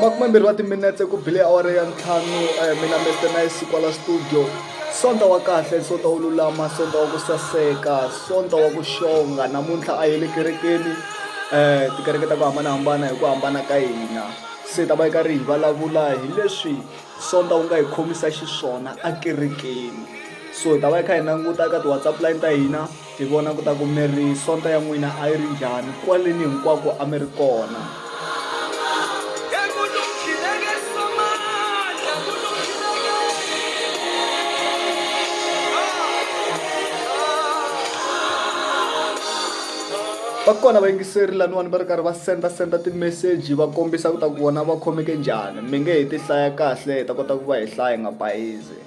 makumembirhi wa timinetse ku bile awara ya ntlhanu um mina mester nice kwala studio sonta wa kahle sonta wo lulama sonta wa ku saseka sonta wa ku xonga namuntlha a yi le kerekeni um tikereke ta ku hambanahambana hi ku hambana ka hina se ta va yi ka ri hi vulavula hi leswi sonta wu nga hi khomisa xiswona ekerekeni so hi ta va yi kha hi languta eka ti-whatsapp line ta hina Hi vona ku ta ku mi ri sonto ya n'wina a yi ri njhani kwaleni hinkwako a mi ri kona. Va kona vayingiseri laniwani va ri karhi va senda senda timeseji va kombisa ku ta ku vona va khomeke njhani mi nge he ti hlaya kahle hi ta kota ku va hi hlaya hi nga bayizi.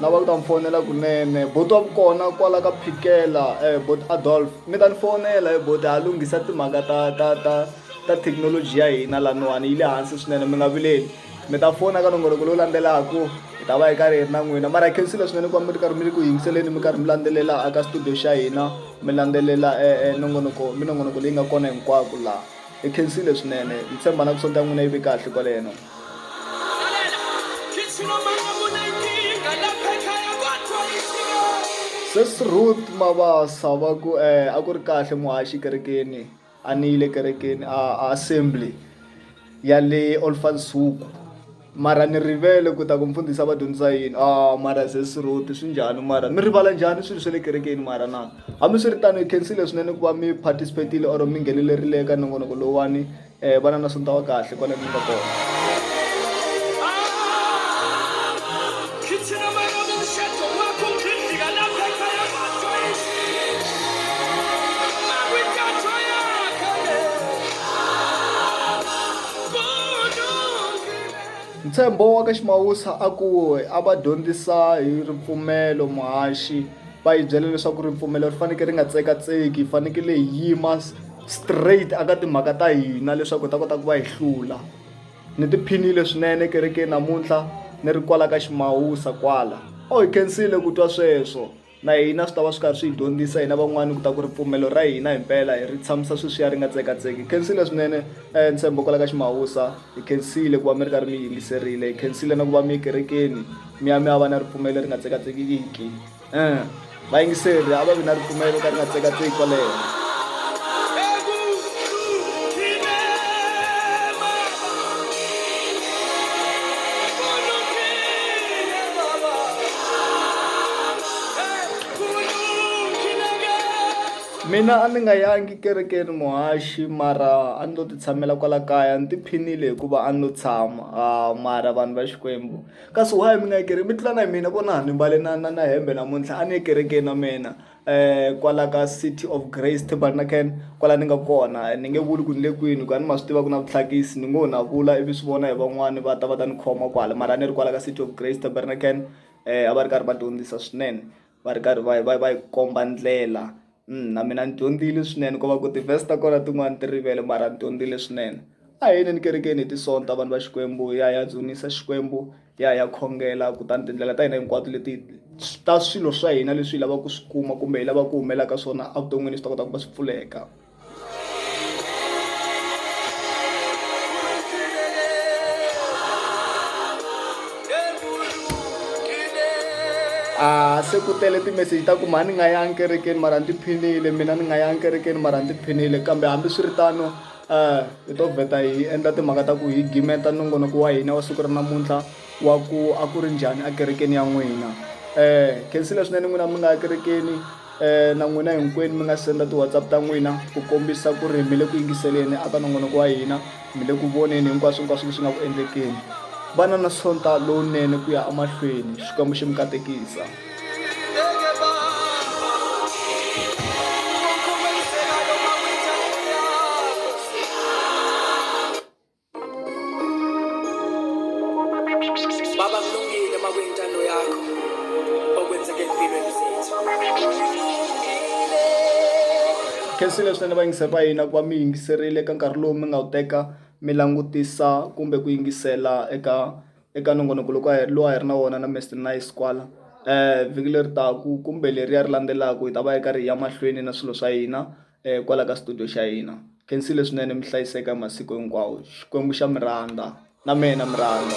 lava ku ta mi fonela kunene boti wa kona kwala ka phikela um eh, boti adolf mi ta ni fonela hi eh, boti ha lunghisa timhaka ta ta ta ta thekinoloji ya hina laniwani yi le hansi swinene mi nga vileli mi ta fona ka nongoloko lowu landzelaka hi ta va hi karhi hi ri na n'wina mara hi khensile swinene ku va mi ri karhi mi ri ku yingiseleni mi karhi mi landzelela aka studio xa hina mi landzelela eh, nongonoko minongonoko leyi nga kona hinkwako laha hi khensile swinene hi tshemba na ku sonta n'wina yi ve kahle kwaleno Sesi Ruth Mabasa va ku eh a ku ri kahle muhaxi kerekeni a ni yile kerekeni a a assembly ya le Olfansuku mara ni rivele ku ta ku mfundhisi a va dyondzisa yini a mara Sesi Ruth swi njhani mara mi rivala njhani swilo swa le kerekeni mara na hambiswiritano hi khensile swinene ku va mi participate-ile or mi nghenelerile eka nongonoko lowuwani vana na sonta wa kahle kwala ni nga kona Ntshembo wa ka Ximawusa a ku a va dyondzisa hi ripfumelo muhaxi va yi byela leswaku ripfumelo ri fanekele ri nga tsekatseki yi fanekele hi yima. straight aka timhaka ta hina leswaku hi ta kota ku va hi hlula ni tiphinile swinene kerekeni namuntlha ni ri kwala ka ximawusa kwala o oh, hi khensile ku twa sweswo na hina swi ta va swi karhi swi hi dyondzisa hina van'wani ku ta ku ripfumelo ra hina himpela hi ri tshamisa sweswiya ri nga tsekatseki hi khensile swinene um ntshembo kwala ka ximawusa hi khensile ku va mi ri karhi mi yingiserile hi khensile na ku va mi ekerekeni mi ya mi ya va na ripfumelo ri nga tsekatsekiki um vayingiseri a va vi na ripfumelo ka ri nga tsekatseki kwaleyo mina a ni nga yangi kerekeni muhaxi mara a ni lo ti tshamela kwala kaya ni tiphinile hikuva a ni lo tshama mara vanhu va Xikwembu. Kasi why mi nga yi mi tlula na hi mina vona ni mbale na na na hembe namuntlha a ni ye kerekeni na mina kwala ka City of Grace Tabernacle kwala ni nga kona ni nge vuli ku ni le kwini ku a ni ma swi tiva ku na vutlhakisi ni ngo na vula ivi swi vona hi van'wani va ta va ta ni khoma kwala mara a ni ri kwala ka City of Grace Tabernacle a va ri karhi va dyondzisa swinene. va ri karhi va va va hi komba ndlela na mina ni dyondzile swinene ko va ku ti-verse ta kona tin'wani ti rivele mara ni dyondzile swinene a hi yeleni kerekeni hi tisonta vanhu va xikwembu hi ya hi ya dzunisa xikwembu hi ya hi ya khongela kutani tindlela ta hina hinkwato leti ta swilo swa hina leswi hi lavaka ku swi kuma kumbe hi lavaka ku humelela ka swona evuton'wini swi ta kota ku va swi pfuleka. a se ku tele timeseji ta ku mhani ni nga yangi kerekeni mara ni tiphinile mina ni nga yangi kerekeni mara ni tiphinile kambe hambiswiritano um hi to vheta hi endla timhaka ta ku hi gimeta nongonoko wa hina wa siku ra namuntlha wa ku a ku ri njhani ekerekeni ya n'wina um khensile swinene n'wina mi nga ya kerekeni um na n'wina hinkwenu mi nga senda ti-whatsapp ta n'wina ku kombisa ku ri mi le ku yingiseleni a ka nongonoko wa hina mi le ku voneni hinkwaswo hinkwaswo leswi nga ku endlekeni va na na sonta lowunene ku ya emahlweni xikwembu xi mi katekisa baba kulungile uma kuyintando yakho okwenzeka empilweni zethu khensile swinene vayingise va hina ku va mi yingiserile eka nkarhi lowu mi nga wu teka mi langutisa kumbe ku yingisela eka eka nongonoko loko a hi lowu a hi ri na wona na mr nice kwala um vhiki leri taku kumbe leriya ri landzelaka hi ta va yi karhi hi ya mahlweni na swilo swa hina eh, kwala ka studio xa hina khensile swinene mi hlayiseka masiku hinkwawo xikwembu xa miranda na mina miranda